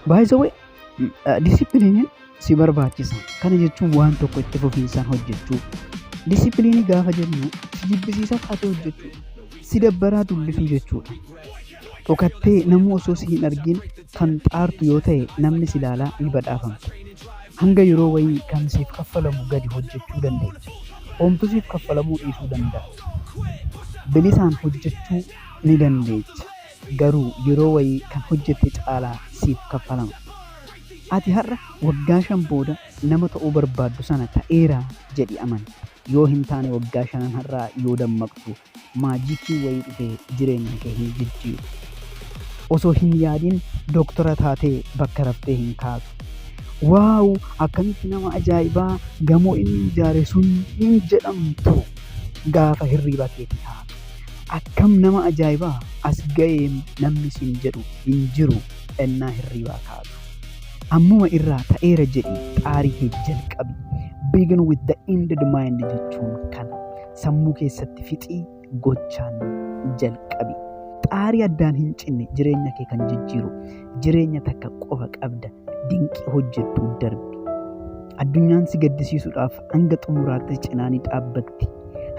By the way, disipiliiniin si barbaachisa. Kana jechuun waan tokko itti fufiinsaan hojjechuu. Disipiliinii gaafa jennu si jibbisiisaa taatee hojjechuu. Si dabbaraa dubbisuu jechuudha. Dhokattee namuu osoo si hin argin kan xaartu yoo ta'e namni si ilaalaa ni badhaafamta. Hanga yeroo wayii kan siif kaffalamu gadi hojjechuu dandeenya. Homtu siif kaffalamuu dhiisuu danda'a. Bilisaan hojjechuu ni dandeecha. garuu yeroo wayii kan hojjette caalaa siif kaffalama. Ati har'a waggaa shan booda nama ta'uu barbaaddu sana ta'eera jedhi amani. Yoo hin taane waggaa shanan har'aa yoo dammaqxu maajiikiin wayii dhufee jireenya kee hin jijjiiru. Osoo hin yaadin doktora taatee bakka raftee hin kaatu. Waaw akkamitti nama ajaa'ibaa gamoo inni ijaare sun hin jedhamtu gaafa hirriiba keetii kaatu. Akkam nama ajaa'ibaa as ga'eem namni siin jedhu hin jiru ennaa hirriibaa kaatu. Ammuma irraa ta'eera jedhii xaarii kee jalqabi. Begin with the ended mind jechuun kana. Sammuu keessatti fixii gochaan jalqabi. Xaarii addaan hin cinne jireenya kee kan jijjiiru. Jireenya takka qofa qabda. Dinqii hojjettuu darbi. Addunyaan si gaddisiisuudhaaf hanga xumuraatti cinaa ni dhaabbatti.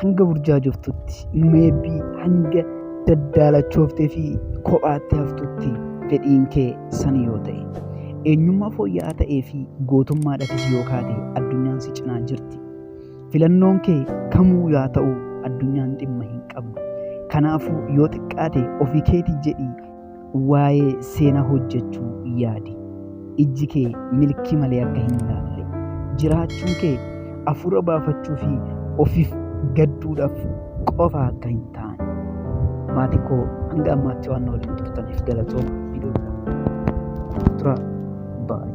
Hanga burjaajoftutti, meebbii hanga daddaalachooftee fi kophaatti haftutti fedhiin kee san yoo ta'e. Eenyummaa fooyya'aa ta'ee fi gootummaadhafis yoo kaate addunyaan si cinaa jirti. Filannoon kee kamuu yaa ta'u addunyaan dhimma hin qabdu. Kanaafuu yoo xiqqaate ofii keetii jedhii Waa'ee seenaa hojjechuu yaadi. Ijji kee milkii malee akka hin ilaalle. Jiraachuun kee hafuura baafachuu fi ofiif gadduudhaaf qofa akka hin taane. Maatii koo hanga ammaatti waan na waliin turtaniif galatooma. Viidiyoo biraa. Turaa. Baay'ee.